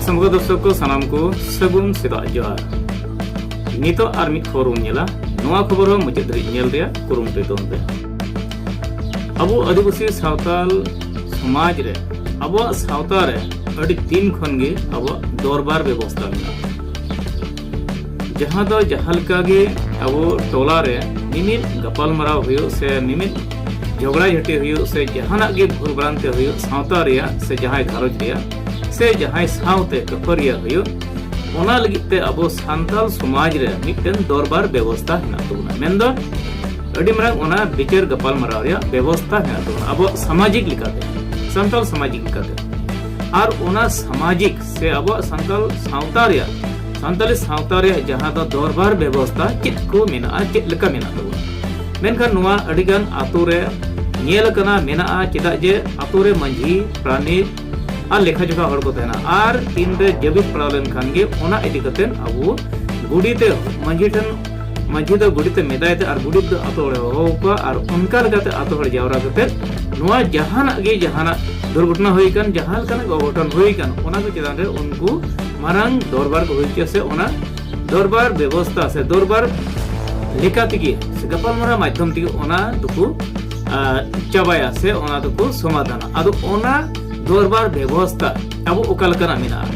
ᱥᱟᱢᱜᱟ ᱫᱚᱨᱥᱚᱠ ᱠᱚ ᱥᱟᱱᱟᱢ ᱠᱚ ᱥᱟᱹᱜᱩᱱ ᱥᱮᱛᱟᱜ ᱡᱚᱦᱟᱨ ᱱᱤᱛᱚᱜ ᱟᱨ ᱢᱤᱫ ᱠᱷᱚᱵᱚᱨ ᱵᱚᱱ ᱧᱮᱞᱟ ᱱᱚᱣᱟ ᱠᱷᱚᱵᱚᱨ ᱦᱚᱸ ᱢᱩᱪᱟᱹᱫ ᱫᱷᱟᱹᱨᱤᱡ ᱧᱮᱞ ᱨᱮᱭᱟᱜ ᱠᱩᱨᱩᱢᱩᱴᱩᱭ ᱛᱟᱵᱚᱱ ᱯᱮ ᱟᱵᱚ ᱟᱹᱫᱤᱵᱟᱹᱥᱤ ᱥᱟᱶᱛᱟᱞ ᱥᱚᱢᱟᱡᱽ ᱨᱮ ᱟᱵᱚᱣᱟᱜ ᱥᱟᱶᱛᱟ ᱨᱮ ᱟᱹᱰᱤ ᱫᱤᱱ ᱠᱷᱚᱱ ᱜᱮ ᱟᱵᱚᱣᱟᱜ ᱫᱚᱨᱵᱟᱨ ᱵᱮᱵᱚᱥᱛᱟ ᱢᱮᱱᱟᱜᱼᱟ ᱡᱟᱦᱟᱸ ᱫᱚ ᱡᱟᱦᱟᱸ ᱞᱮᱠᱟ ᱜᱮ ᱟᱵᱚ ᱴᱚᱞᱟ ᱨᱮ ᱢᱤᱢᱤᱫ ᱜᱟᱯᱟᱞᱢᱟᱨᱟᱣ ᱦᱩᱭᱩᱜ ᱥᱮ ᱢᱤᱢᱤᱫ ᱡᱷᱚᱜᱽᱲᱟ ᱡᱷᱟᱹᱴᱤ ᱦᱩᱭᱩᱜ ᱥᱮ ᱡᱟᱦᱟᱱᱟᱜ ᱜᱮ ᱵᱷᱩᱞ ᱵᱷᱨᱟᱱᱛᱤ ᱦᱩᱭᱩᱜ ᱥᱟᱶᱛᱟ ᱨᱮᱭᱟᱜ ᱥᱮ ᱡᱟᱦᱟᱸᱭ ᱜᱷᱟᱨᱚᱸᱡᱽ ᱨᱮᱭᱟᱜ ᱥᱮ ᱡᱟᱦᱟᱸᱭ ᱥᱟᱶᱛᱮ ᱠᱟᱹᱯᱟᱹᱨᱤᱭᱟᱹ ᱦᱩᱭᱩᱜ ᱚᱱᱟ ᱞᱟᱹᱜᱤᱫ ᱛᱮ ᱟᱵᱚ ᱥᱟᱱᱛᱟᱞ ᱥᱚᱢᱟᱡᱽ ᱨᱮ ᱢᱤᱫᱴᱮᱱ ᱫᱚᱨᱵᱟᱨ ᱵᱮᱵᱚᱥᱛᱟ ᱦᱮᱱᱟᱜ ᱛᱟᱵᱚᱱᱟ ᱢᱮᱱᱫᱚ ᱟᱹᱰᱤ ᱢᱟᱨᱟᱝ ᱚᱱᱟ ᱵᱤᱪᱟᱹᱨ ᱜᱟᱯᱟᱞᱢᱟᱨᱟᱣ ᱨᱮᱭᱟᱜ ᱵᱮᱵᱚᱥᱛᱟ ᱦᱮᱱᱟᱜ ᱛᱟᱵᱚᱱᱟ ᱟᱵᱚ ᱥᱟᱢᱟᱡᱤᱠ ᱞᱮᱠᱟᱛᱮ ᱥᱟᱱᱛᱟᱞ ᱥᱟᱢᱟᱡᱤᱠ ᱞᱮᱠᱟᱛᱮ ᱟᱨ ᱚᱱᱟ ᱥᱟᱢᱟᱡᱤᱠ ᱥᱮ ᱟᱵᱚᱣᱟᱜ ᱥᱟᱱᱛᱟᱞ ᱥᱟᱶᱛᱟ ᱨᱮᱭᱟᱜ ᱥᱟᱱᱛᱟᱞᱤ ᱥᱟᱶᱛᱟ ᱨᱮᱭᱟᱜ ᱡᱟᱦᱟᱸ ᱫᱚ ᱫᱚᱨᱵᱟᱨ ᱵᱮᱵᱚᱥᱛᱟ ᱪᱮᱫ ᱠᱚ ᱢᱮᱱᱟᱜᱼᱟ ᱪᱮᱫ ᱞᱮᱠᱟ ᱢᱮᱱᱟᱜ ᱛᱟᱵᱚᱱᱟ ᱢᱮᱱᱠᱷᱟᱱ ᱱᱚᱣᱟ ᱟᱹᱰᱤᱜᱟᱱ ᱟᱛᱳ ᱨᱮ ᱧᱮᱞ ᱟᱠᱟᱱᱟ ᱢᱮᱱᱟᱜᱼᱟ ᱪᱮᱫᱟᱜ ᱡᱮ ᱟᱛᱳ ᱨᱮ ᱢᱟᱺᱡᱷᱤ ᱯᱨᱟᱱᱤᱠ ᱟᱨ ᱞᱮᱠᱷᱟ ᱡᱚᱠᱷᱟ ᱦᱚᱲ ᱠᱚ ᱛᱟᱦᱮᱱᱟ ᱟᱨ ᱛᱤᱱᱨᱮ ᱡᱟᱹᱵᱤᱫ ᱯᱟᱲᱟᱣ ᱞᱮᱱᱠᱷᱟᱱ ᱜᱮ ᱚᱱᱟ ᱤᱫᱤ ᱠᱟᱛᱮ ᱟᱵᱚ ᱜᱩᱰᱤᱛᱮ ᱢᱟᱺᱡᱷᱤ ᱴᱷᱮᱱ ᱢᱟᱹᱡᱷᱤ ᱫᱚ ᱜᱩᱰᱤᱛᱮ ᱢᱮᱫᱟᱭ ᱛᱮ ᱟᱨ ᱜᱩᱰᱤᱛ ᱫᱚ ᱟᱛᱳ ᱦᱚᱲᱮ ᱦᱚᱦᱚ ᱠᱚᱣᱟ ᱟᱨ ᱚᱱᱠᱟ ᱞᱮᱠᱟᱛᱮ ᱟᱛᱳ ᱦᱚᱲ ᱡᱟᱣᱨᱟ ᱠᱟᱛᱮ ᱱᱚᱣᱟ ᱡᱟᱦᱟᱱᱟᱜ ᱜᱮ ᱡᱟᱦᱟᱱᱟᱜ ᱫᱩᱨᱜᱷᱚᱴᱚᱱᱟ ᱦᱩᱭ ᱠᱟᱱ ᱡᱟᱦᱟᱸ ᱞᱮᱠᱟᱱᱟᱜ ᱚᱜᱷᱚᱴᱚᱱ ᱦᱩᱭ ᱠᱟᱱ ᱚᱱᱟ ᱠᱚ ᱪᱮᱛᱟᱱ ᱨᱮ ᱩᱱᱠᱩ ᱢᱟᱨᱟᱝ ᱫᱚᱨᱵᱟᱨ ᱠᱚ ᱦᱩᱭ ᱦᱚᱪᱚᱭᱟ ᱥᱮ ᱚᱱᱟ ᱫᱚᱨᱵᱟᱨ ᱵᱮᱵᱚᱥᱛᱷᱟ ᱥᱮ ᱫᱚᱨᱵᱟᱨ ᱞᱮᱠᱟ ᱛᱮᱜᱮ ᱥᱮ ᱜᱟᱯᱟᱞᱢᱟᱨᱟᱣ ᱢᱟᱫᱽᱫᱷᱚᱢ ᱛᱮᱜᱮ ᱚᱱᱟ ᱫᱚᱠᱚ ᱪᱟᱵᱟᱭᱟ ᱥᱮ ᱚᱱᱟ ᱫᱚᱠᱚ ᱥᱚᱢᱟᱫᱷᱟᱱᱟ ᱟᱫᱚ ᱚᱱᱟ ᱫᱚᱨᱵᱟᱨ ᱵᱮᱵᱚᱥᱛᱷᱟ ᱟᱵᱚ ᱚᱠᱟ ᱞᱮᱠᱟᱱᱟᱜ ᱢᱮᱱᱟᱜᱼᱟ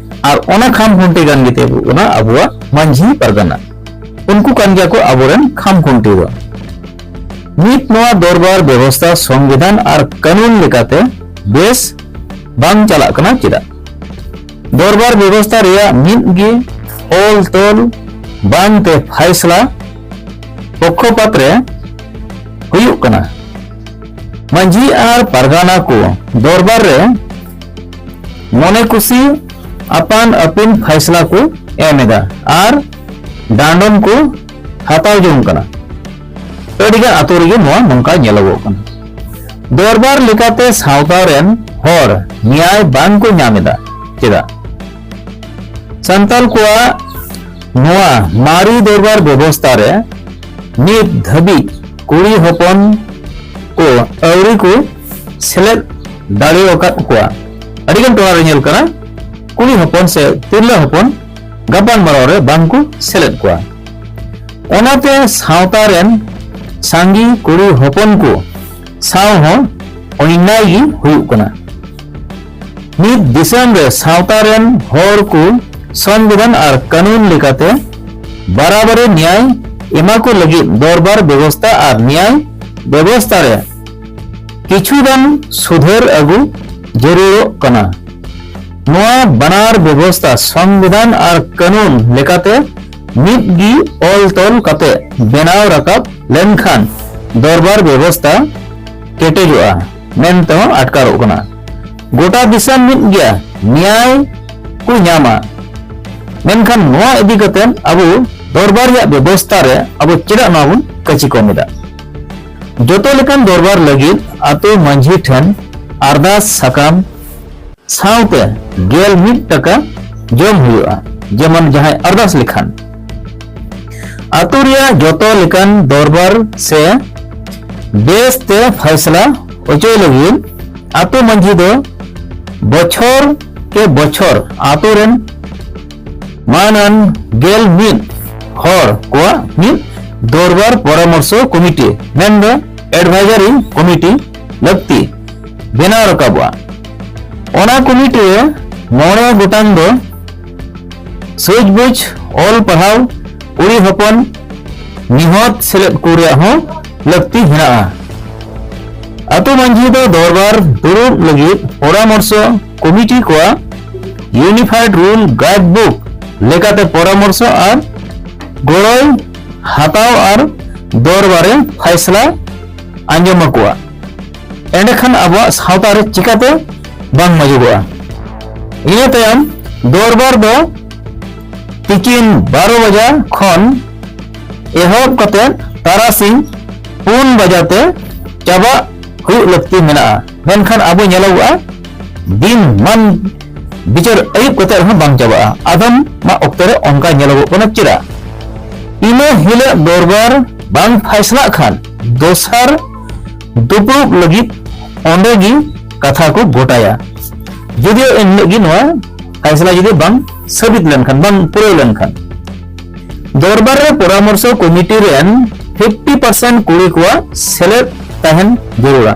ᱟᱨ ᱚᱱᱟ ᱠᱷᱟᱢ ᱠᱷᱩᱱᱴᱤ ᱠᱟᱱ ᱜᱮᱛᱮ ᱦᱩᱭᱩᱜ ᱠᱟᱱᱟ ᱟᱵᱚᱣᱟᱜ ᱢᱟᱹᱡᱷᱤ ᱯᱟᱨᱜᱟᱱᱟ ᱩᱱᱠᱩ ᱠᱟᱱ ᱜᱮᱭᱟ ᱠᱚ ᱟᱵᱚᱨᱮᱱ ᱠᱷᱟᱢ ᱠᱷᱩᱱᱴᱤ ᱫᱚ ᱱᱤᱛ ᱱᱚᱣᱟ ᱫᱚᱨᱵᱟᱨ ᱵᱮᱵᱚᱥᱛᱷᱟ ᱥᱚᱝᱵᱤᱫᱷᱟᱱ ᱟᱨ ᱠᱟᱹᱱᱩᱱ ᱞᱮᱠᱟᱛᱮ ᱵᱮᱥ ᱵᱟᱝ ᱪᱟᱞᱟᱜ ᱠᱟᱱᱟ ᱪᱮᱫᱟᱜ ᱫᱚᱨᱵᱟᱨ ᱵᱮᱵᱚᱥᱛᱷᱟ ᱨᱮᱭᱟᱜ ᱢᱤᱫ ᱜᱮ ᱚᱞ ᱛᱚᱞ ᱵᱟᱝ ᱛᱮ ᱯᱷᱟᱭᱥᱞᱟ ᱯᱚᱠᱷᱚᱯᱟᱛ ᱨᱮ ᱦᱩᱭᱩᱜ ᱠᱟᱱᱟ ᱢᱟᱹᱡᱷᱤ ᱟᱨ ᱯᱟᱨᱜᱟᱱᱟ ᱠᱚ ᱫᱚᱨᱵᱟᱨ ᱨᱮ ᱢᱚᱱᱮ ᱠᱩᱥᱤ ᱟᱯᱟᱱ ᱟᱹᱯᱤᱱ ᱯᱷᱟᱭᱥᱞᱟ ᱠᱚ ᱮᱢ ᱮᱫᱟ ᱟᱨ ᱰᱟᱸᱰᱚᱢ ᱠᱚ ᱦᱟᱛᱟᱣ ᱡᱚᱝ ᱠᱟᱱᱟ ᱟᱹᱰᱤᱜᱟᱱ ᱟᱛᱳ ᱨᱮᱜᱮ ᱱᱚᱣᱟ ᱱᱚᱝᱠᱟ ᱧᱮᱞᱚᱜᱚᱜ ᱠᱟᱱᱟ ᱫᱚᱨᱵᱟᱨ ᱞᱮᱠᱟᱛᱮ ᱥᱟᱶᱛᱟ ᱨᱮᱱ ᱦᱚᱲ ᱱᱮᱭᱟᱭ ᱵᱟᱝ ᱠᱚ ᱧᱟᱢ ᱮᱫᱟ ᱪᱮᱫᱟᱜ ᱥᱟᱱᱛᱟᱲ ᱠᱚᱣᱟᱜ ᱱᱚᱣᱟ ᱢᱟᱨᱤ ᱫᱚᱨᱵᱟᱨ ᱵᱮᱵᱚᱥᱛᱟ ᱨᱮ ᱱᱤᱛ ᱫᱷᱟᱹᱵᱤᱡ ᱠᱩᱲᱤ ᱦᱚᱯᱚᱱ ᱠᱚ ᱟᱹᱣᱨᱤ ᱠᱚ ᱥᱮᱞᱮᱫ ᱫᱟᱲᱮ ᱟᱠᱟᱫ ᱠᱚᱣᱟ ᱟᱹᱰᱤᱜᱟᱱ ᱴᱚᱞᱟ ᱨᱮ ᱧᱮᱞ ᱠᱟᱱᱟ ᱠᱩᱲᱤ ᱦᱚᱯᱚᱱ ᱥᱮ ᱛᱤᱨᱞᱟᱹ ᱦᱚᱯᱚᱱ ᱜᱟᱯᱟᱞ ᱢᱟᱨᱟᱣ ᱨᱮ ᱵᱟᱝ ᱠᱚ ᱥᱮᱞᱮᱫ ᱠᱚᱣᱟ ᱚᱱᱟᱛᱮ ᱥᱟᱶᱛᱟ ᱨᱮᱱ ᱥᱟᱸᱜᱮ ᱠᱩᱲᱤ ᱦᱚᱯᱚᱱ ᱠᱚ ᱥᱟᱶ ᱦᱚᱸ ᱚᱱᱱᱟᱭ ᱜᱮ ᱦᱩᱭᱩᱜ ᱠᱟᱱᱟ ᱢᱤᱫ ᱫᱤᱥᱚᱢ ᱨᱮ ᱥᱟᱶᱛᱟ ᱨᱮᱱ ᱦᱚᱲ ᱠᱚ ᱥᱚᱝᱵᱤᱫᱷᱟᱱ ᱟᱨ ᱠᱟᱹᱱᱩᱱ ᱞᱮᱠᱟᱛᱮ ᱵᱟᱨᱟᱵᱟᱨᱤ ᱱᱮᱭᱟᱭ ᱮᱢᱟ ᱠᱚ ᱞᱟᱹᱜᱤᱫ ᱫᱚᱨᱵᱟᱨ ᱵᱮᱵᱚᱥᱛᱟ ᱟᱨ ᱱᱮᱭᱟᱭ ᱵᱮᱵᱚᱥᱛᱟ ᱨᱮ ᱠᱤᱪᱷᱩ ᱜᱟᱱ ᱥᱩᱫᱷᱟᱹᱨ ᱟᱹᱜᱩ ᱡᱟᱹᱨᱩᱲᱚᱜ ᱠᱟᱱᱟ ᱱᱚᱣᱟ ᱵᱟᱱᱟᱨ ᱵᱮᱵᱚᱥᱛᱟ ᱥᱚᱝᱵᱤᱫᱷᱟᱱ ᱟᱨ ᱠᱟᱹᱱᱩᱱ ᱞᱮᱠᱟᱛᱮ ᱢᱤᱫ ᱜᱮ ᱚᱞ ᱛᱚᱞ ᱠᱟᱛᱮ ᱵᱮᱱᱟᱣ ᱨᱟᱠᱟᱵ ᱞᱮᱱᱠᱷᱟᱱ ᱫᱚᱨᱵᱟᱨ ᱵᱮᱵᱚᱥᱛᱟ ᱠᱮᱴᱮᱡᱚᱜᱼᱟ ᱢᱮᱱᱛᱮ ᱦᱚᱸ ᱟᱴᱠᱟᱨᱚᱜ ᱠᱟᱱᱟ ᱜᱚᱴᱟ ᱫᱤᱥᱚᱢ ᱢᱤᱫ ᱜᱮᱭᱟ ᱱᱮᱭᱟᱭ ᱠᱚ ᱧᱟᱢᱟ ᱢᱮᱱᱠᱷᱟᱱ ᱱᱚᱣᱟ ᱤᱫᱤ ᱠᱟᱛᱮ ᱟᱵᱚ ᱫᱚᱨᱵᱟᱨ ᱨᱮᱭᱟᱜ ᱵᱮᱵᱚᱥᱛᱟ ᱨᱮ ᱟᱵᱚ ᱪᱮᱫᱟᱜ ᱱᱚᱣᱟ ᱵᱚᱱ ᱠᱟᱹᱪᱤ ᱠᱚᱢ ᱮᱫᱟ ᱡᱚᱛᱚ ᱞᱮᱠᱟᱱ ᱫᱚᱨᱵᱟᱨ ᱞᱟᱹᱜᱤᱫ ᱟᱛᱳ ᱢᱟᱹᱡᱷᱤ ᱴᱷᱮᱱ ᱟᱨᱫᱟᱥ ᱥᱟᱠᱟᱢ ᱥᱟᱶᱛᱮ ᱜᱮᱞ ᱢᱤᱫ ᱴᱟᱠᱟ ᱡᱚᱢ ᱦᱩᱭᱩᱜᱼᱟ ᱡᱮᱢᱚᱱ ᱡᱟᱦᱟᱸᱭ ᱟᱨᱫᱟᱥ ᱞᱮᱠᱷᱟᱱ ᱟᱛᱳ ᱨᱮᱭᱟᱜ ᱡᱚᱛᱚ ᱞᱮᱠᱟᱱ ᱫᱚᱨᱵᱟᱨ ᱥᱮ ᱵᱮᱥ ᱛᱮ ᱯᱷᱟᱭᱥᱞᱟ ᱚᱪᱚᱭ ᱞᱟᱹᱜᱤᱫ ᱟᱛᱳ ᱢᱟᱹᱡᱷᱤ ᱫᱚ ᱵᱚᱪᱷᱚᱨ ᱠᱮ ᱵᱚᱪᱷᱚᱨ ᱟᱛᱳ ᱨᱮᱱ ᱢᱟᱱᱟᱱ ᱜᱮᱞ ᱢᱤᱫ ᱦᱚᱲ ᱠᱚᱣᱟᱜ ᱢᱤᱫ ᱫᱚᱨᱵᱟᱨ ᱯᱚᱨᱟᱢᱚᱨᱥᱚ ᱠᱚᱢᱤᱴᱤ ᱢᱮᱱᱫᱚ ᱮᱰᱵᱷᱟᱭᱡᱟᱨᱤ ᱠᱚᱢᱤᱴᱤ ᱞᱟᱹᱠᱛᱤ ᱵᱮᱱᱟᱣ ᱨᱟᱠᱟᱵᱚᱜᱼᱟ ᱚᱱᱟ ᱠᱚᱢᱤᱴᱤ ᱨᱮ ᱢᱚᱬᱮ ᱜᱚᱴᱟᱝ ᱫᱚ ᱥᱩᱡᱽᱵᱩᱡᱽ ᱚᱞ ᱯᱟᱲᱦᱟᱣ ᱠᱩᱲᱤ ᱦᱚᱯᱚᱱ ᱱᱤᱦᱚᱛ ᱥᱮᱞᱮᱫ ᱠᱚ ᱨᱮᱭᱟᱜ ᱦᱚᱸ ᱞᱟᱹᱠᱛᱤ ᱢᱮᱱᱟᱜᱼᱟ ᱟᱛᱳ ᱢᱟᱺᱡᱷᱤ ᱫᱚ ᱫᱚᱨᱵᱟᱨ ᱫᱩᱲᱩᱵ ᱞᱟᱹᱜᱤᱫ ᱯᱚᱨᱟᱢᱚᱨᱥᱚ ᱠᱚᱢᱤᱴᱤ ᱠᱚᱣᱟᱜ ᱤᱭᱩᱱᱤᱯᱷᱟᱭᱰ ᱨᱩᱞ ᱜᱟᱭᱤᱰ ᱵᱩᱠ ᱞᱮᱠᱟᱛᱮ ᱯᱚᱨᱟᱢᱚᱨᱥᱚ ᱟᱨ ᱜᱚᱲᱚᱭ ᱦᱟᱛᱟᱣ ᱟᱨ ᱫᱚᱨᱵᱟᱨᱮ ᱯᱷᱟᱭᱥᱞᱟ ᱟᱸᱡᱚᱢ ᱟᱠᱚᱣᱟ ᱮᱸᱰᱮᱠᱷᱟᱱ ᱟᱵᱚᱣᱟᱜ ᱥᱟᱶᱛᱟ ᱨᱮ ᱪᱤᱠᱟᱹᱛᱮ ᱵᱟᱝ ᱢᱚᱡᱚᱜᱚᱜᱼᱟ ᱤᱱᱟᱹ ᱛᱟᱭᱚᱢ ᱫᱚᱨᱵᱟᱨ ᱫᱚ ᱛᱤᱠᱤᱱ ᱵᱟᱨᱚ ᱵᱟᱡᱟ ᱠᱷᱚᱱ ᱮᱦᱚᱵ ᱠᱟᱛᱮ ᱛᱟᱨᱟᱥᱤᱧ ᱯᱩᱱ ᱵᱟᱡᱟᱛᱮ ᱪᱟᱵᱟᱜ ᱦᱩᱭᱩᱜ ᱞᱟᱹᱠᱛᱤ ᱢᱮᱱᱟᱜᱼᱟ ᱢᱮᱱᱠᱷᱟᱱ ᱟᱵᱚ ᱧᱮᱞᱚᱜᱚᱜᱼᱟ ᱫᱤᱱ ᱢᱟᱱ ᱵᱤᱪᱟᱹᱨ ᱟᱹᱭᱩᱵ ᱠᱟᱛᱮ ᱨᱮᱦᱚᱸ ᱵᱟᱝ ᱪᱟᱵᱟᱜᱼᱟ ᱟᱫᱚᱢ ᱢᱟ ᱚᱠᱛᱚ ᱨᱮ ᱚᱱᱠᱟ ᱧᱮᱞᱚᱜᱚᱜ ᱠᱟᱱᱟ ᱪᱮᱫᱟᱜ ᱤᱱᱟᱹ ᱦᱤᱞᱳᱜ ᱫᱚᱨᱵᱟᱨ ᱵᱟᱝ ᱯᱷᱟᱭᱥᱞᱟᱜ ᱠᱷᱟᱱ ᱫᱚᱥᱟᱨ ᱫᱩᱯᱲᱩᱵ ᱞᱟᱹᱜᱤᱫ ᱚᱸᱰᱮ ᱜᱮ ᱠᱟᱛᱷᱟ ᱠᱚ ᱜᱚᱴᱟᱭᱟ ᱡᱩᱫᱤ ᱮᱱ ᱦᱤᱞᱳᱜ ᱜᱮ ᱱᱚᱣᱟ ᱯᱷᱟᱭᱥᱞᱟ ᱡᱩᱫᱤ ᱵᱟᱝ ᱥᱟᱹᱵᱤᱛ ᱞᱮᱱᱠᱷᱟᱱ ᱵᱟᱝ ᱯᱩᱨᱟᱹᱣ ᱞᱮᱱᱠᱷᱟᱱ ᱫᱚᱨᱵᱟᱨ ᱨᱮ ᱯᱚᱨᱟᱢᱚᱨᱥᱚ ᱠᱚᱢᱤᱴᱤ ᱨᱮᱱ 50% ᱠᱩᱲᱤ ᱠᱚᱣᱟᱜ ᱥᱮᱞᱮᱫ ᱛᱟᱦᱮᱱ ᱡᱟᱹᱨᱩᱲᱟ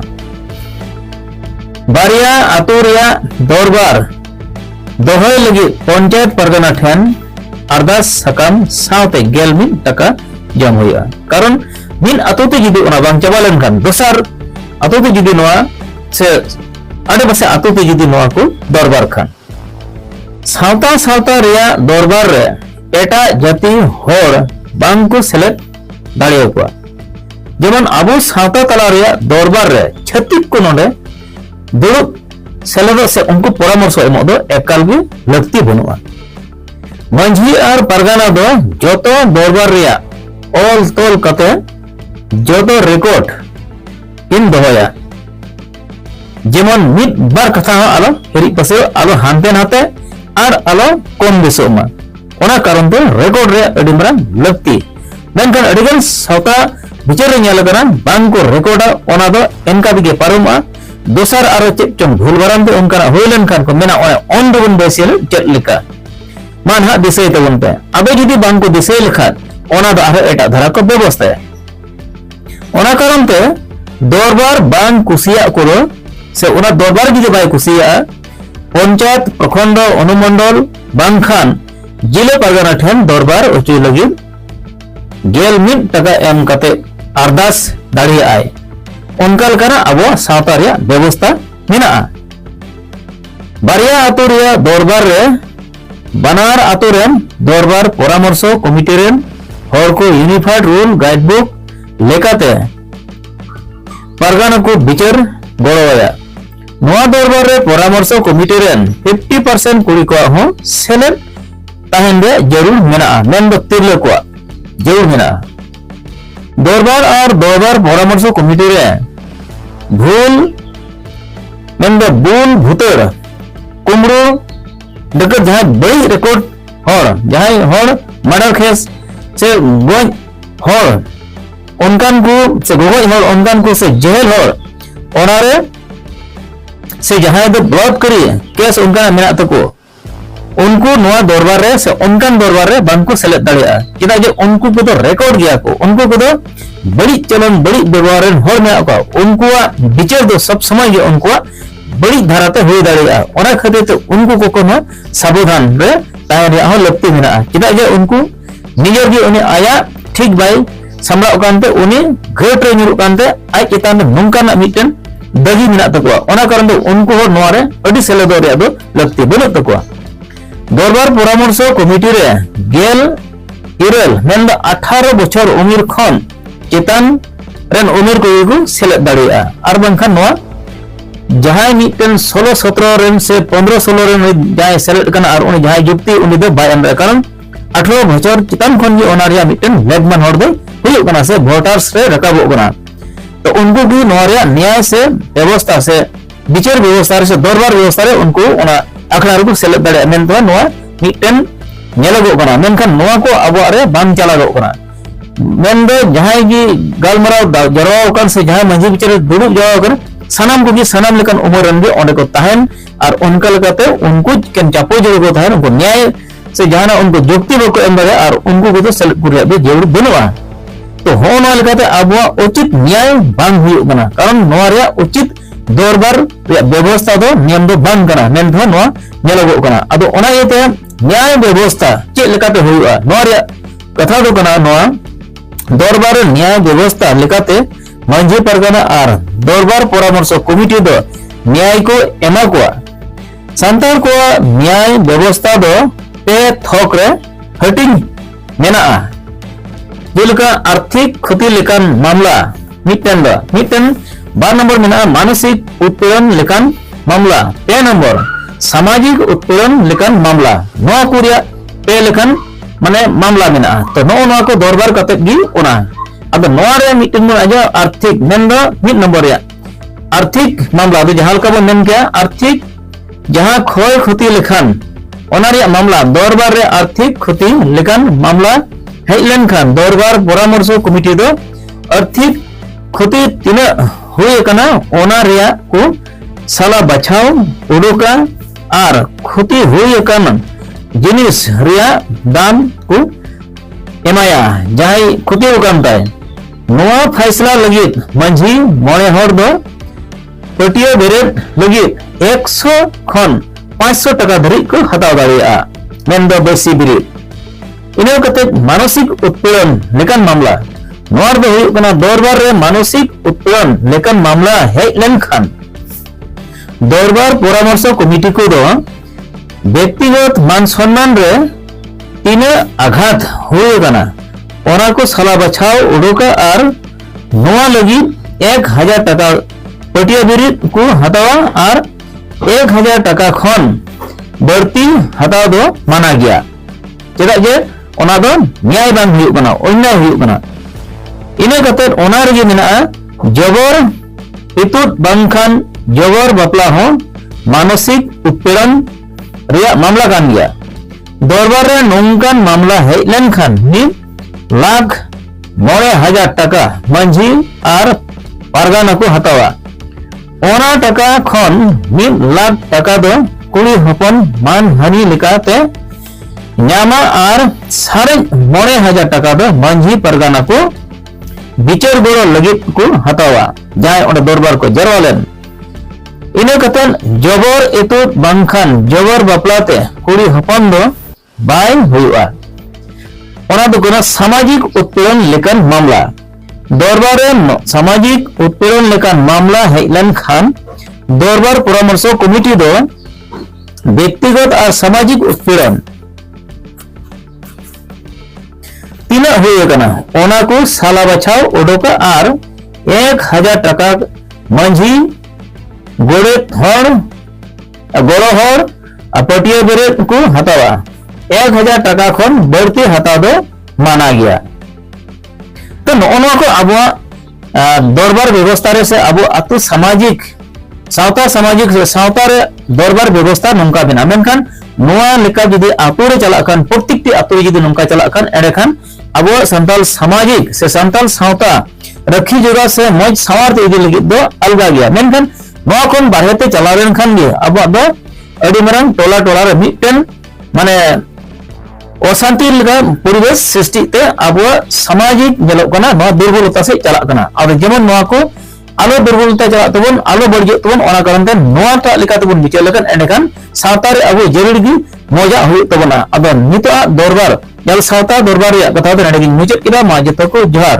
ᱵᱟᱨᱭᱟ ᱟᱛᱳ ᱨᱮᱭᱟᱜ ᱫᱚᱨᱵᱟᱨ ᱫᱚᱦᱚᱭ ᱞᱟᱹᱜᱤᱫ ᱯᱚᱧᱪᱟᱭᱮᱛ ᱯᱟᱨᱜᱟᱱᱟ ᱴᱷᱮᱱ ᱟᱨᱫᱟᱥ ᱥᱟᱠᱟᱢ ᱥᱟᱶᱛᱮ ᱜᱮᱞ ᱢᱤᱫ ᱴᱟᱠᱟ ᱡᱚᱢ ᱦᱩᱭᱩᱜᱼᱟ ᱠᱟᱨᱚᱱ ᱢᱤᱫ ᱟᱛᱳ ᱛᱮ ᱡᱩᱫᱤ ᱚᱱᱟ ᱵᱟᱝ ᱪᱟᱵᱟ ᱞᱮᱱᱠᱷᱟᱱ ᱫᱚᱥᱟᱨ ᱟᱛᱳ ᱛᱮ ᱡᱩᱫᱤ ᱱᱚᱣᱟ ᱥᱮ ᱟᱰᱮᱯᱟᱥᱮ ᱟᱛᱳ ᱛᱮ ᱡᱩᱫᱤ ᱱᱚᱣᱟ ᱠᱚ ᱫᱚᱨᱵᱟᱨ ᱠᱷᱟᱱ ᱥᱟᱶᱛᱟ ᱥᱟᱶᱛᱟ ᱨᱮᱭᱟᱜ ᱫᱚᱨᱵᱟᱨ ᱨᱮ ᱮᱴᱟᱜ ᱡᱟᱹᱛᱤ ᱦᱚᱲ ᱵᱟᱝ ᱠᱚ ᱥᱮᱞᱮᱫ ᱫᱟᱲᱮᱭᱟ ᱠᱚᱣᱟ ᱡᱮᱢᱚᱱ ᱟᱵᱚ ᱥᱟᱶᱛᱟ ᱛᱟᱞᱟ ᱨᱮᱭᱟᱜ ᱫᱚᱨᱵᱟᱨ ᱨᱮ ᱪᱷᱟᱹᱛᱤᱠ ᱠᱚ ᱱᱚᱰᱮ ᱫᱩᱲᱩᱵ ᱥᱮᱞᱮᱫᱚᱜ ᱥᱮ ᱩᱱᱠᱩ ᱯᱚᱨᱟᱢᱚᱨᱥᱚ ᱮᱢᱚᱜ ᱫᱚ ᱮᱠᱟᱞ ᱜᱮ ᱞᱟᱹᱠᱛᱤ ᱵᱟᱹᱱᱩᱜᱼᱟ ᱢᱟᱹᱡᱷᱤ ᱟᱨ ᱯᱟᱨᱜᱟᱱᱟ ᱫᱚ ᱡᱚᱛᱚ ᱫᱚᱨᱵᱟᱨ ᱨᱮᱭᱟᱜ ᱚᱞ ᱛᱚᱞ ᱠᱟᱛᱮ ᱡᱚᱛᱚ ᱨᱮᱠᱚᱨᱰ ᱤᱧ ᱫᱚᱦᱚᱭᱟ ᱡᱮᱢᱚᱱ ᱢᱤᱫ ᱵᱟᱨ ᱠᱟᱛᱷᱟ ᱦᱚᱸ ᱟᱞᱚ ᱦᱤᱨᱤᱡ ᱯᱟᱹᱥᱤᱨ ᱟᱞᱚ ᱦᱟᱱᱛᱮ ᱱᱟᱛᱮ ᱟᱨ ᱟᱞᱚ ᱠᱚᱢ ᱵᱮᱥᱚᱜ ᱢᱟ ᱚᱱᱟ ᱠᱟᱨᱚᱱ ᱛᱮ ᱨᱮᱠᱚᱨᱰ ᱨᱮ ᱟᱹᱰᱤ ᱢᱟᱨᱟᱝ ᱞᱟᱹᱠᱛᱤ ᱢᱮᱱᱠᱷᱟᱱ ᱟᱹᱰᱤᱜᱟᱱ ᱥᱟᱶᱛᱟ ᱵᱤᱪᱟᱹᱨ ᱨᱮ ᱧᱮᱞ ᱟᱠᱟᱱᱟ ᱵᱟᱝ ᱠᱚ ᱨᱮᱠᱚᱨᱰᱟ ᱚᱱᱟ ᱫᱚ ᱮᱱᱠᱟ ᱛᱮᱜᱮ ᱯᱟᱨᱚᱢᱚᱜᱼᱟ ᱫᱚᱥᱟᱨ ᱟᱨᱚ ᱪᱮᱫ ᱪᱚᱝ ᱵᱷᱩᱞ ᱵᱟᱨᱟᱢ ᱫᱚ ᱚᱱᱠᱟᱱᱟᱜ ᱦᱩᱭ ᱞᱮᱱᱠᱷᱟᱱ ᱠᱚ ᱢᱮᱱᱟ ᱚᱱᱮ ᱚᱱ ᱫᱚᱵᱚᱱ ᱵᱟᱹᱭᱥᱟᱹ ᱞᱮᱫ ᱪᱮᱫ ᱞᱮᱠᱟ ᱢᱟ ᱱᱟᱦᱟᱜ ᱫᱤᱥᱟᱹᱭ ᱛᱟᱵᱚᱱ ᱯᱮ ᱟᱫᱚ ᱡᱩᱫᱤ ᱵᱟᱝ ᱠᱚ ᱫᱤᱥᱟᱹᱭ ᱞᱮᱠᱷᱟᱱ ᱚᱱᱟ ᱫᱚ ᱟᱨᱦᱚᱸ ᱮᱴᱟᱜ ᱫᱷᱟᱨᱟ ᱠᱚ ᱵᱮᱵᱚᱥᱛᱷᱟᱭᱟ ᱚᱱᱟ ᱠᱟᱨᱚᱱ ᱛᱮ ᱫᱚᱨᱵᱟᱨ ᱵᱟᱝ ᱠᱩᱥᱤᱭᱟᱜ ᱠᱚᱫᱚ ᱥᱮ ᱚᱱᱟ ᱫᱚᱨᱵᱟᱨ ᱡᱩᱫᱤ ᱵᱟᱭ ᱠᱩᱥᱤᱭᱟᱜᱼᱟ ᱯᱚᱧᱪᱟᱭᱮᱛ ᱯᱨᱚᱠᱷᱚᱸᱰ ᱚᱱᱩᱢᱚᱸᱰᱚᱞ ᱵᱟᱝᱠᱷᱟᱱ ᱡᱤᱞᱟᱹ ᱯᱟᱨᱜᱟᱱᱟ ᱴᱷᱮᱱ ᱫᱚᱨᱵᱟᱨ ᱚᱪᱚᱭ ᱞᱟᱹᱜᱤᱫ ᱜᱮᱞ ᱢᱤᱫ ᱴᱟᱠᱟ ᱮᱢ ᱠᱟᱛᱮ ᱟᱨᱫᱟᱥ ᱫᱟᱲᱮᱭᱟᱜᱼᱟᱭ ᱚᱱᱠᱟ ᱞᱮᱠᱟᱱᱟᱜ ᱟᱵᱚᱣᱟᱜ ᱥᱟᱶᱛᱟ ᱨᱮᱭᱟᱜ ᱵᱮᱵᱚᱥᱛᱷᱟ ᱢᱮᱱᱟᱜᱼᱟ ᱵᱟᱨᱭᱟ ᱟᱛᱳ ᱨᱮᱭᱟᱜ ᱫᱚᱨᱵᱟᱨ ᱨᱮ ᱵᱟᱱᱟᱨ ᱟᱛᱳ ᱨᱮᱱ ᱫᱚᱨᱵᱟᱨ ᱯᱚᱨᱟᱢᱚᱨᱥᱚ ᱠᱚᱢᱤᱴᱤ ᱨᱮᱱ ᱦᱚᱲ ᱠᱚ ᱭᱩᱱᱤᱯᱷᱟᱭᱰ ᱨᱩᱞ ᱜᱟᱭᱤᱰ ᱵᱩᱠ ᱞᱮᱠᱟᱛᱮ ᱯᱟᱨᱜᱟᱱᱟ ᱠᱚ ᱵᱤᱪᱟᱹᱨ ᱜᱚᱲᱚᱣᱟᱭᱟ ᱱᱚᱣᱟ ᱫᱚᱨᱵᱟᱨ ᱨᱮ ᱯᱚᱨᱟᱢᱚᱨᱥᱚ ᱠᱚᱢᱤᱴᱤ ᱨᱮᱱ 50% ᱠᱩᱲᱤ ᱠᱚᱣᱟᱜ ᱦᱚᱸ ᱥᱮᱞᱮᱫ ᱛᱟᱦᱮᱱ ᱨᱮ ᱡᱟᱹᱨᱩᱲ ᱢᱮᱱᱟᱜᱼᱟ ᱢᱮᱱ ᱫᱚ ᱛᱤᱨᱞᱟᱹ ᱠᱚᱣᱟᱜ ᱡᱟᱹᱨᱩᱲ ᱢᱮᱱᱟᱜᱼᱟ ᱫᱚᱨᱵᱟᱨ ᱟᱨ ᱫᱚᱨᱵᱟᱨ ᱯᱚᱨᱟᱢᱚᱨᱥᱚ ᱠᱚᱢᱤᱴᱤ ᱨᱮ ᱵᱷᱩᱞ ᱢᱮᱱ ᱫᱚ ᱵᱩᱞ ᱵᱷᱩᱛᱟᱹᱲ ᱠᱩᱢᱲᱩ ᱰᱟᱹᱠᱟᱹᱛ ᱡᱟᱦᱟᱸᱭ ᱵᱟᱹᱲᱤᱡ ᱨᱮᱠᱚᱨᱰ ᱦᱚᱲ ᱡᱟᱦᱟᱸᱭ ᱦᱚᱲ ᱢᱟᱨᱰᱟᱨ ᱠᱮᱥ ᱥᱮ ᱜᱚᱡ ᱦᱚᱲ ᱚᱱᱠᱟᱱ ᱠᱚ ᱥᱮ ᱜᱚᱜᱚᱡ ᱦᱚᱲ ᱚᱱᱠᱟᱱ ᱠᱚ ᱥᱮ ᱡᱮᱦᱮᱞ ᱦᱚᱲ ᱚᱱᱟᱨᱮ ᱥᱮ ᱡᱟᱦᱟᱸᱭ ᱫᱚ ᱵᱞᱚᱠ ᱠᱟᱹᱨᱤ ᱠᱮᱥ ᱚᱱᱠᱟᱱᱟᱜ ᱢᱮᱱᱟᱜ ᱛᱟᱠᱚ ᱩᱱᱠᱩ ᱱᱚᱣᱟ ᱫᱚᱨᱵᱟᱨ ᱨᱮ ᱥᱮ ᱚᱱᱠᱟᱱ ᱫᱚᱨᱵᱟᱨ ᱨᱮ ᱵᱟᱝᱠᱚ ᱥᱮᱞᱮᱫ ᱫᱟᱲᱮᱭᱟᱜᱼᱟ ᱪᱮᱫᱟᱜ ᱡᱮ ᱩᱱᱠᱩ ᱠᱚᱫᱚ ᱨᱮᱠᱚᱨᱰ ᱜᱮᱭᱟ ᱠᱚ ᱩᱱᱠᱩ ᱠᱚᱫᱚ ᱵᱟᱹᱲᱤᱡ ᱪᱚᱞᱚᱱ ᱵᱟᱹᱲᱤᱡ ᱵᱮᱵᱚᱦᱟᱨ ᱨᱮᱱ ᱦᱚᱲ ᱢᱮᱱᱟᱜ ᱠᱚᱣᱟ ᱩᱱᱠᱩᱣᱟᱜ ᱵᱤᱪᱟᱹᱨ ᱫᱚ ᱥᱚᱵ ᱥᱚᱢᱚᱭ ᱜᱮ ᱩᱱᱠᱩᱣᱟᱜ ᱵᱟᱹᱲᱤᱡ ᱫᱷᱟᱨᱟᱛᱮ ᱦᱩᱭ ᱫᱟᱲᱮᱭᱟᱜᱼᱟ ᱚᱱᱟ ᱠᱷᱟᱹᱛᱤᱨ ᱛᱮ ᱩᱱᱠᱩ ᱠᱚ ᱠᱚᱱᱚ ᱥᱟᱵᱚᱫᱷᱟᱱ ᱨᱮ ᱛᱟᱦᱮᱸ ᱨᱮᱭᱟᱜ ᱦᱚᱸ ᱞᱟᱹᱠᱛᱤ ᱢᱮᱱᱟᱜᱼᱟ ᱪᱮᱫᱟᱜ ᱡᱮ ᱩᱱᱠᱩ ᱱᱤᱡᱮᱨ ᱜᱮ ᱩᱱᱤ ᱟᱭᱟᱜ ᱴᱷᱤᱠ ᱵᱟᱭ ᱥᱟᱢᱵᱲᱟᱣ ᱠᱟᱱᱛᱮ ᱩᱱᱤ ᱜᱷᱟᱹᱴ ᱨᱮ ᱧᱩᱨᱩᱜ ᱠᱟᱱᱛᱮ ᱟᱡ ᱪᱮᱛᱟᱱ ᱨᱮ ᱱᱚᱝᱠᱟᱱᱟᱜ ᱢᱤᱫᱴᱮᱱ ᱫᱟᱹᱜᱤ ᱢᱮᱱᱟᱜ ᱛᱟᱠᱚᱣᱟ ᱚᱱᱟ ᱠᱟᱨᱚᱱ ᱛᱮ ᱩᱱᱠᱩ ᱦᱚᱸ ᱱᱚᱣᱟ ᱨᱮ ᱟᱹᱰᱤ ᱥᱮᱞᱮᱫᱚᱜ ᱨᱮᱭᱟᱜ ᱫᱚ ᱞᱟᱹᱠᱛᱤ ᱵᱟᱹᱱᱩᱜ ᱛᱟᱠᱚᱣᱟ ᱫᱚᱨᱵᱟᱨ ᱯᱚᱨᱟᱢᱚᱨᱥᱚ ᱠᱚᱢᱤᱴᱤ ᱨᱮ ᱜᱮᱞ ᱤᱨᱟᱹᱞ ᱢᱮᱱᱫᱚ ᱟᱴᱷᱟᱨᱚ ᱵᱚᱪᱷᱚᱨ ᱩᱢᱮᱨ ᱠᱷᱚᱱ ᱪᱮᱛᱟᱱ ᱨᱮᱱ ᱩᱢᱮᱨ ᱠᱚᱜᱮ ᱠᱚ ᱥᱮᱞᱮᱫ ᱫᱟᱲᱮᱭᱟᱜᱼᱟ ᱟᱨ ᱵᱟᱝᱠᱷᱟᱱ ᱱᱚᱣᱟ ᱡᱟᱦᱟᱸᱭ ᱢᱤᱫᱴᱮᱱ ᱥᱳᱞᱳ ᱥᱚᱛᱨᱚ ᱨᱮᱱ ᱥᱮ ᱯᱚᱱᱨᱚ ᱥᱳᱞᱳ ᱨᱮᱱ ᱡᱟᱦᱟᱸᱭ ᱥᱮᱞᱮᱫ ᱠᱟᱱᱟ ᱟᱨ ᱩᱱᱤ ᱡᱟᱦᱟᱸᱭ ᱡᱩᱠᱛᱤ ᱩᱱᱤ ᱫᱚ ᱵᱟᱭ ᱮᱢ ᱫᱟᱲᱮᱭᱟᱜᱼᱟ ᱠᱟᱨᱚᱱ ᱟᱴᱷᱨᱚ ᱵᱚᱪᱷᱚᱨ ᱪᱮᱛᱟᱱ ᱠᱷᱚᱱ ᱜᱮ ᱚᱱᱟ ᱨᱮᱭᱟᱜ ᱢᱤᱫᱴᱮᱱ ᱞᱮᱜᱽᱢᱟᱱ ᱦᱚᱲ ᱫᱚ ᱦᱩᱭᱩᱜ ᱠᱟᱱᱟ ᱥᱮ ᱵᱷᱳᱴᱟᱨᱥ ᱨᱮ ᱨᱟᱠᱟᱵᱚᱜ ᱠᱟᱱᱟ ᱛᱚ ᱩᱱᱠᱩ ᱜᱮ ᱱᱚᱣᱟ ᱨᱮᱭᱟᱜ ᱱᱮᱭᱟᱭ ᱥᱮ ᱵᱮᱵᱚᱥᱛᱷᱟ ᱥᱮ ᱵᱤᱪᱟᱹᱨ ᱵᱮᱵᱚᱥᱛᱷᱟ ᱨᱮ ᱥᱮ ᱫᱚᱨᱵᱟᱨ ᱵᱮᱵᱚᱥᱛᱷᱟ ᱨᱮ ᱩᱱᱠᱩ ᱚᱱᱟ ᱟᱠᱷᱲᱟ ᱨᱮᱠᱚ ᱥᱮᱞᱮᱫ ᱫᱟᱲᱮᱭᱟᱜᱼᱟ ᱢᱮᱱᱛᱮ ᱱᱚᱣᱟ ᱢᱤᱫᱴᱮᱱ ᱧᱮᱞᱚᱜᱚᱜ ᱠᱟᱱᱟ ᱢᱮᱱᱠᱷᱟᱱ ᱱᱚᱣᱟ ᱠᱚ ᱟᱵᱚᱣᱟᱜ ᱨᱮ ᱵᱟᱝ ᱪᱟᱞᱟᱜᱚᱜ ᱠᱟᱱᱟ ᱢᱮᱱᱫᱚ ᱡᱟᱦᱟᱸᱭ ᱜᱮ ᱜᱟᱞᱢᱟᱨᱟᱣ ᱡᱟᱨᱣᱟ ᱟᱠᱟᱱ ᱥᱮ ᱡᱟᱦᱟᱸᱭ ᱢᱟᱹᱡᱷᱤ ᱵᱤᱪᱟᱹᱨ ᱫᱩᱲᱩᱵ ᱡᱟᱨᱣᱟ ᱟᱠᱟᱱ ᱥᱟᱱᱟᱢ ᱠᱚᱜᱮ ᱥᱟᱱᱟᱢ ᱞᱮᱠᱟᱱ ᱩᱢᱮᱨ ᱨᱮᱱ ᱜᱮ ᱚᱸᱰᱮ ᱠᱚ ᱛᱟᱦᱮᱱ ᱟᱨ ᱚᱱᱠᱟ ᱞᱮᱠᱟᱛᱮ ᱩᱱᱠᱩ ᱠᱮᱱ ᱪᱟᱯᱚ ᱡᱟᱹᱨᱩᱲ ᱠᱚ ᱛᱟᱦᱮᱱ ᱩᱱᱠᱩ ᱱᱭᱟᱭ ᱥᱮ ᱡᱟᱦᱟᱱᱟᱜ ᱩᱱᱠᱩ ᱡᱩᱠᱛᱤ ᱵᱟᱠᱚ ᱮᱢ ᱫᱟᱲᱮᱭᱟᱜᱼᱟ ᱟᱨ ᱩᱱᱠᱩ ᱠᱚᱫᱚ ᱥᱮᱞᱮᱫ ᱠᱚ ᱨᱮᱭᱟᱜ ᱫᱚ ᱡᱟᱹᱨᱩᱲ ᱵᱟᱹᱱᱩᱜᱼᱟ ᱛᱚ ᱦᱚᱸ ᱱᱚᱣᱟ ᱞᱮᱠᱟᱛᱮ ᱟᱵᱚᱣᱟᱜ ᱩᱪᱤᱛ ᱱᱭᱟᱭ ᱵᱟᱝ ᱦᱩᱭᱩᱜ ᱠᱟᱱᱟ ᱠᱟᱨᱚᱱ ᱱᱚᱣᱟ ᱨᱮᱭᱟᱜ ᱩᱪᱤᱛ ᱫᱚᱨᱵᱟᱨ ᱨᱮᱭᱟᱜ ᱵᱮᱵᱚᱥᱛᱷᱟ ᱫᱚ ᱱᱤᱭᱚᱢ ᱫᱚ ᱵᱟᱝ ᱠᱟᱱᱟ ᱢᱮᱱ ᱫᱚ ᱱᱚᱣᱟ ᱧᱮᱞᱚᱜᱚᱜ ᱠᱟᱱᱟ ᱟᱫᱚ ᱚᱱᱟ ᱤᱭᱟᱹᱛᱮ ᱱᱭᱟᱭ ᱵᱮᱵᱚᱥᱛᱷᱟ ᱪᱮᱫ ᱞᱮᱠᱟᱛᱮ ᱦᱩᱭᱩᱜᱼᱟ ᱱᱚᱣᱟ ᱨᱮᱭᱟᱜ ᱠᱟᱛᱷᱟ ᱫᱚ ᱠᱟᱱᱟ ᱱᱚᱣᱟ ᱫᱚᱨᱵᱟᱨ ᱨᱮ ᱱᱤᱭᱟᱭ ᱵᱮᱵᱚᱥᱛᱟ ᱞᱮᱠᱟᱛᱮ ᱢᱟᱹᱡᱷᱤ ᱯᱟᱨᱜᱟᱱᱟ ᱟᱨ ᱫᱚᱨᱵᱟᱨ ᱯᱚᱨᱟᱢᱚᱨᱥᱚ ᱠᱚᱢᱤᱴᱤ ᱫᱚ ᱱᱤᱭᱟᱭ ᱠᱚ ᱮᱢᱟ ᱠᱚᱣᱟ ᱥᱟᱱᱛᱟᱲ ᱠᱚᱣᱟᱜ ᱱᱤᱭᱟᱭ ᱵᱮᱵᱚᱥᱛᱟ ᱫᱚ ᱯᱮ ᱛᱷᱚᱠ ᱨᱮ ᱦᱟᱹᱴᱤᱧ ᱢᱮᱱᱟᱜᱼᱟ ᱡᱮᱞᱮᱠᱟ ᱟᱨᱛᱷᱤᱠ ᱠᱷᱚᱛᱤ ᱞᱮᱠᱟᱱ ᱢᱟᱢᱞᱟ ᱢᱤᱫᱴᱮᱱ ᱫᱚ ᱢᱤᱫᱴᱮᱱ ᱵᱟᱨ ᱱᱚᱢᱵᱚᱨ ᱢᱮᱱᱟᱜᱼᱟ ᱢᱟᱱᱚᱥᱤᱠ ᱩᱛᱯᱤᱲᱚᱱ ᱞᱮᱠᱟᱱ ᱢᱟᱢᱞᱟ ᱯᱮ ᱱᱚᱢᱵᱚᱨ ᱥᱟᱢᱟᱡᱤᱠ ᱩᱛᱯᱤᱲᱚᱱ ᱞᱮᱠᱟᱱ ᱢᱟᱢᱞᱟ ᱱᱚᱣᱟ ᱠᱚ ᱨᱮᱭᱟᱜ ᱯᱮ ᱞᱮᱠᱷᱟᱱ ᱢᱟᱱᱮ ᱢᱟᱢᱞᱟ ᱢᱮᱱᱟᱜᱼᱟ ᱛᱚ ᱱᱚᱜᱼᱚ ᱱᱚᱣᱟ ᱠᱚ ᱫᱚᱨᱵᱟᱨ ᱠᱟᱛᱮᱫ ᱜᱮ ᱚᱱᱟ ᱟᱫᱚ ᱱᱚᱣᱟ ᱨᱮ ᱢᱤᱫᱴᱮᱱ ᱵᱚᱱ ᱟᱡᱚ ᱟᱨᱛᱷᱤᱠ ᱢᱮᱱ ᱫᱚ ᱢᱤᱫ ᱱᱚᱢᱵᱚᱨ ᱨᱮᱭᱟᱜ ᱟᱨᱛᱷᱤᱠ ᱢᱟᱢᱞᱟ ᱫᱚ ᱡᱟᱦᱟᱸ ᱞᱮᱠᱟ ᱵᱚᱱ ᱢᱮᱱ ᱠᱮᱭᱟ ᱟᱨᱛᱷᱤᱠ ᱡᱟᱦᱟᱸ ᱠᱷᱚᱭ ᱠᱷᱚᱛᱤ ᱞᱮᱠᱷᱟᱱ ᱚᱱᱟ ᱨᱮᱭᱟᱜ ᱢᱟᱢᱞᱟ ᱫᱚᱨᱵᱟᱨ ᱨᱮ ᱟᱨᱛᱷᱤᱠ ᱠᱷᱚᱛᱤ ᱞᱮᱠᱟᱱ ᱢᱟᱢᱞᱟ ᱦᱮᱡ ᱞᱮᱱᱠᱷᱟᱱ ᱫᱚᱨᱵᱟᱨ ᱯᱚᱨᱟᱢᱚᱨᱥᱚ ᱠᱚᱢᱤᱴᱤ ᱫᱚ ᱟᱨᱛᱷᱤᱠ ᱠᱷᱚᱛᱤ ᱛᱤᱱᱟᱹᱜ ᱦᱩᱭ ᱟᱠᱟᱱᱟ ᱚᱱᱟ ᱨᱮᱭᱟᱜ ᱠᱚ ᱥᱟᱞᱟ ᱵᱟᱪᱷᱟᱣ ᱩᱰᱩᱠᱟ ᱟᱨ ᱠᱷᱚᱛᱤ ᱦᱩᱭ ᱟᱠᱟᱱ ᱡᱤᱱᱤᱥ ᱨᱮᱭᱟᱜ ᱫᱟᱢ ᱠᱚ ᱮᱢᱟᱭᱟ ᱡᱟᱦᱟᱸᱭ ᱠᱷᱚᱛᱤ ᱟᱠᱟᱱ ᱛᱟᱭ ᱱᱚᱣᱟ ᱯᱷᱟᱭᱥᱞᱟ ᱞᱟᱹᱜᱤᱫ ᱢᱟᱹᱡᱷᱤ ᱢᱚᱬᱮ ᱦᱚᱲ ᱫᱚ ᱯᱟᱹᱴᱤᱭᱟᱹ ᱵᱮᱨᱮᱫ ᱞᱟᱹᱜᱤᱫ 100 ᱠᱷᱚᱱ 500 ᱴᱟᱠᱟ ᱫᱷᱟᱹᱨᱤᱡ ᱠᱚ ᱦᱟᱛᱟᱣ ᱫᱟᱲᱮᱭᱟᱜᱼᱟ ᱢᱮᱱᱫᱚ ᱵᱟᱹᱭᱥᱤ ᱵᱮᱨᱮᱫ ᱤᱱᱟᱹ ᱠᱟᱛᱮ ᱢᱟᱱᱚᱥᱤᱠ ᱩᱛᱯᱤᱲᱚᱱ ᱞᱮᱠᱟᱱ ᱢᱟᱢᱞᱟ ᱱᱚᱣᱟ ᱨᱮᱫᱚ ᱦᱩᱭᱩᱜ ᱠᱟᱱᱟ ᱫᱚᱨᱵᱟᱨ ᱨᱮ ᱢᱟᱱᱚᱥᱤᱠ ᱩᱛᱯᱤᱲᱚᱱ ᱞᱮᱠᱟᱱ ᱢᱟᱢᱞᱟ ᱦᱮᱡ ᱞᱮᱱᱠᱷᱟᱱ ᱫᱚᱨᱵᱟᱨ ᱯᱚᱨᱟᱢᱚᱨᱥᱚ ᱠᱚᱢᱤᱴᱤ ᱠᱚ ᱫᱚ ᱵᱮᱠᱛᱤᱜᱚᱛ ᱢᱟᱱ ᱥᱚᱱᱢᱟᱱ ᱨᱮ ᱛᱤᱱᱟᱹᱜ ᱟᱜᱷᱟᱛ ᱦᱩᱭ ᱟᱠᱟᱱᱟ ᱚᱱᱟ ᱠᱚ ᱥᱟᱞᱟ ᱵᱟᱪᱷᱟᱣ ᱩᱰᱩᱠᱟ ᱟᱨ ᱱᱚᱣᱟ ᱞᱟᱹᱜᱤᱫ ᱮᱠ ᱦᱟᱡᱟᱨ ᱴᱟᱠᱟ ᱯᱟᱹᱴᱤᱭᱟᱹ ᱵᱤᱨᱤᱫ ᱠᱚ ᱦᱟᱛᱟᱣᱟ ᱟᱨ ᱮᱠ ᱦᱟᱡᱟᱨ ᱴᱟᱠᱟ ᱠᱷᱚᱱ ᱵᱟᱹᱲᱛᱤ ᱦᱟᱛᱟᱣ ᱫᱚ ᱢᱟᱱᱟ ᱜᱮᱭᱟ ᱪᱮᱫᱟᱜ ᱡᱮ ᱚᱱᱟ ᱫᱚ ᱱᱮᱭᱟᱭ ᱵᱟᱝ ᱦᱩᱭᱩᱜ ᱠᱟᱱᱟ ᱚᱱᱱᱟᱭ ᱦᱩᱭᱩᱜ ᱠᱟᱱᱟ ᱤᱱᱟᱹ ᱠᱟᱛᱮ ᱚᱱᱟ ᱨᱮᱜᱮ ᱢᱮᱱᱟᱜᱼᱟ ᱡᱚᱵᱚᱨ ᱤᱛᱩᱫ ᱵᱟᱝᱠᱷᱟᱱ ᱡᱚᱵᱚᱨ ᱵᱟᱯᱞᱟ ᱦᱚᱸ ᱢᱟᱱᱚᱥᱤᱠ ᱩᱛᱯᱤᱲᱚᱱ ᱨᱮᱭᱟᱜ ᱢᱟᱢᱞᱟ ᱠᱟᱱ ᱜᱮᱭᱟ ᱫᱚᱨᱵᱟᱨ ᱨᱮ ᱱᱚᱝᱠᱟᱱ ᱢᱟᱢᱞᱟ ᱦᱮᱡ ᱞᱮᱱᱠᱷᱟᱱ ᱢᱤᱫ ᱞᱟᱠᱷ ᱢᱚᱬᱮ ᱦᱟᱡᱟᱨ ᱴᱟᱠᱟ ᱢᱟᱹᱡᱷᱤ ᱟᱨ ᱯᱟᱨᱜᱟᱱᱟ ᱠᱚ ᱦᱟᱛᱟᱣᱟ ᱚᱱᱟ ᱴᱟᱠᱟ ᱠᱷᱚᱱ ᱢᱤᱫ ᱞᱟᱠᱷ ᱴᱟᱠᱟ ᱫᱚ ᱠᱩᱲᱤ ᱦᱚᱯᱚᱱ ᱢᱟᱱ ᱦᱟᱹᱱᱤ ᱞᱮᱠᱟᱛᱮ ᱧᱟᱢᱟ ᱟᱨ ᱥᱟᱨᱮᱡ ᱢᱚᱬᱮ ᱦᱟᱡᱟᱨ ᱴᱟᱠᱟ ᱫᱚ ᱢᱟᱹᱡᱷᱤ ᱯᱟᱨᱜᱟᱱᱟ ᱠᱚ ᱵᱤᱪᱟᱹᱨ ᱜᱚᱲᱚ ᱞᱟᱹᱜᱤᱫ ᱠᱚ ᱦᱟᱛᱟᱣᱟ ᱡᱟᱦᱟᱸᱭ ᱚᱸᱰᱮ ᱫᱚᱨᱵᱟᱨ ᱠᱚ ᱡᱟᱨᱣᱟ ᱞᱮᱱ ᱤᱱᱟᱹ ᱠᱟᱛᱮ ᱡᱚᱵᱚᱨ ᱤᱛᱩᱫ ᱵᱟᱝᱠᱷᱟᱱ ᱡᱚᱵᱚᱨ ᱵᱟᱯᱞᱟ ᱛᱮ ᱠᱩᱲᱤ ᱦᱚᱯᱚᱱ ᱫᱚ ᱵᱟᱭ ᱦᱩᱭᱩᱜᱼᱟ ᱚᱱᱟ ᱫᱚ ᱠᱟᱱᱟ ᱥᱟᱢᱟᱡᱤᱠ ᱩᱛᱯᱤᱲᱚᱱ ᱞᱮᱠᱟᱱ ᱢᱟᱢᱞᱟ ᱫᱚᱨᱵᱟᱨ ᱨᱮ ᱥᱟᱢᱟᱡᱤᱠ ᱩᱛᱯᱤᱲᱚᱱ ᱞᱮᱠᱟᱱ ᱢᱟᱢᱞᱟ ᱦᱮᱡ ᱞᱮᱱᱠᱷᱟᱱ ᱫᱚᱨᱵᱟᱨ ᱯᱚᱨᱟᱢᱚᱨᱥᱚ ᱠᱚᱢᱤᱴᱤ ᱫᱚ ᱵᱮᱠᱛᱤᱜᱚᱛ ᱟᱨ ᱥᱟᱢᱟᱡᱤᱠ ᱩᱛᱯᱤᱲᱚᱱ ᱛᱤᱱᱟᱹᱜ ᱦᱩᱭ ᱟᱠᱟᱱᱟ ᱚᱱᱟ ᱠᱚ ᱥᱟᱞᱟ ᱵᱟᱪᱷᱟᱣ ᱚᱰᱚᱠᱟ ᱟᱨ ᱮᱠ ᱦᱟᱡᱟᱨ ᱴᱟᱠᱟ ᱢᱟᱹᱡᱷᱤ ᱜᱚᱲᱮᱛ ᱦᱚᱲ ᱜᱚᱲᱚ ᱦᱚᱲ ᱯᱟᱹᱴᱤᱭᱟᱹ ᱵᱮᱨᱮᱫ ᱠᱚ ᱦᱟᱛᱟᱣᱟ ᱮᱠ ᱦᱟᱡᱟᱨ ᱴᱟᱠᱟ ᱠᱷᱚᱱ ᱵᱟᱹᱲᱛᱤ ᱦᱟᱛᱟᱣ ᱫᱚ ᱢᱟᱱᱟ ᱜᱮᱭᱟ ᱛᱚ ᱱᱚᱜᱼᱚ ᱱᱚᱣᱟ ᱠᱚ ᱟᱵᱚᱣᱟᱜ ᱫᱚᱨᱵᱟᱨ ᱵᱮᱵᱚᱥᱛᱷᱟ ᱨᱮ ᱥᱮ ᱟᱵᱚ ᱟᱛᱳ ᱥᱟᱢᱟᱡᱤᱠ ᱥᱟᱶᱛᱟ ᱥᱟᱢᱟᱡᱤᱠ ᱥᱮ ᱥᱟᱶᱛᱟ ᱨᱮ ᱫᱚᱨᱵᱟᱨ ᱵᱮᱵᱚᱥᱛᱷᱟ ᱱᱚᱝᱠᱟ ᱢᱮᱱᱟᱜᱼᱟ ᱢᱮᱱᱠᱷᱟᱱ ᱱᱚᱣᱟ ᱞᱮᱠᱟ ᱡᱩᱫᱤ ᱟᱛᱳ ᱨᱮ ᱪᱟᱞᱟᱜ ᱠᱷᱟᱱ ᱯᱨᱚᱛᱮᱠᱴᱤ ᱟᱛᱳ ᱨᱮ ᱡᱩᱫᱤ ᱱᱚᱝᱠᱟ ᱪᱟᱞᱟᱜ ᱠᱷᱟᱱ ᱮᱸᱰᱮ ᱠᱷᱟᱱ ᱟᱵᱚᱣᱟᱜ ᱥᱟᱱᱛᱟᱞ ᱥᱟᱢᱟᱡᱤᱠ ᱥᱮ ᱥᱟᱱᱛᱟᱞ ᱥᱟᱶᱛᱟ ᱨᱟᱹᱠᱷᱤ ᱡᱚᱜᱟᱣ ᱥᱮ ᱢᱚᱡᱽ ᱥᱟᱶᱟᱨ ᱛᱮ ᱤᱫᱤ ᱞᱟᱹᱜᱤᱫ ᱫᱚ ᱟᱞᱜᱟ ᱜᱮᱭᱟ ᱢᱮᱱᱠᱷᱟᱱ ᱱᱚᱣᱟ ᱠᱷᱚᱱ ᱵᱟᱨᱦᱮ ᱛᱮ ᱪᱟᱞᱟᱣ ᱞᱮᱱᱠᱷᱟᱱ ᱜᱮ ᱟᱵᱚᱣᱟᱜ ᱫᱚ ᱟᱹᱰᱤ ᱢᱟᱨᱟᱝ ᱴᱚᱞᱟ ᱴᱚᱞᱟ ᱨᱮ ᱢᱤᱫᱴᱮᱱ ᱢᱟᱱᱮ ᱚᱥᱟᱱᱛᱤ ᱞᱮᱠᱟ ᱯᱚᱨᱤᱵᱮᱥ ᱥᱨᱤᱥᱴᱤ ᱛᱮ ᱟᱵᱚᱣᱟᱜ ᱥᱟᱢᱟᱡᱤᱠ ᱧᱮᱞᱚᱜ ᱠᱟᱱᱟ ᱱᱚᱣᱟ ᱫᱩᱨᱵᱚᱞᱚᱛᱟ ᱥᱮᱫ ᱪᱟᱞᱟᱜ ᱠᱟᱱᱟ ᱟᱫᱚ ᱡᱮᱢᱚᱱ ᱱᱚᱣᱟ ᱠᱚ ᱟᱞᱚ ᱫᱩᱨᱵᱚᱞᱚᱛᱟ ᱪᱟᱞᱟᱜ ᱛᱟᱵᱚᱱ ᱟᱞᱚ ᱵᱟᱹᱲᱤᱡᱚᱜ ᱛᱟᱵᱚᱱ ᱚᱱᱟ ᱠᱟᱨᱚᱱ ᱛᱮ ᱱᱚᱣᱟ ᱴᱟᱜ ᱞᱮᱠᱟ ᱛᱮᱵᱚᱱ ᱵᱤᱪᱟᱹᱨ ᱞᱮᱠᱷᱟᱱ ᱮᱸᱰᱮᱠᱷᱟᱱ ᱥᱟᱶᱛᱟ ᱨᱮ ᱟᱵᱚ ᱡᱟᱹᱨᱩᱲ ᱜᱮ ᱢᱚᱡᱟᱜ ᱦᱩᱭᱩᱜ ᱛᱟᱵᱚᱱᱟ ᱟᱫᱚ ᱱᱤᱛᱚᱜ ᱫᱚᱨᱵᱟᱨ ᱡᱟᱦᱟᱸ ᱥᱟᱶᱛᱟ ᱫᱚᱨᱵᱟᱨ ᱨᱮᱭᱟᱜ ᱠᱟᱛᱷᱟ ᱫᱚ ᱱᱚᱰᱮ ᱜᱤᱧ ᱢᱩᱪᱟᱹᱫ ᱠᱮᱫᱟ ᱢᱟ ᱡᱚᱛᱚ ᱠᱚ ᱡᱚᱦᱟᱨ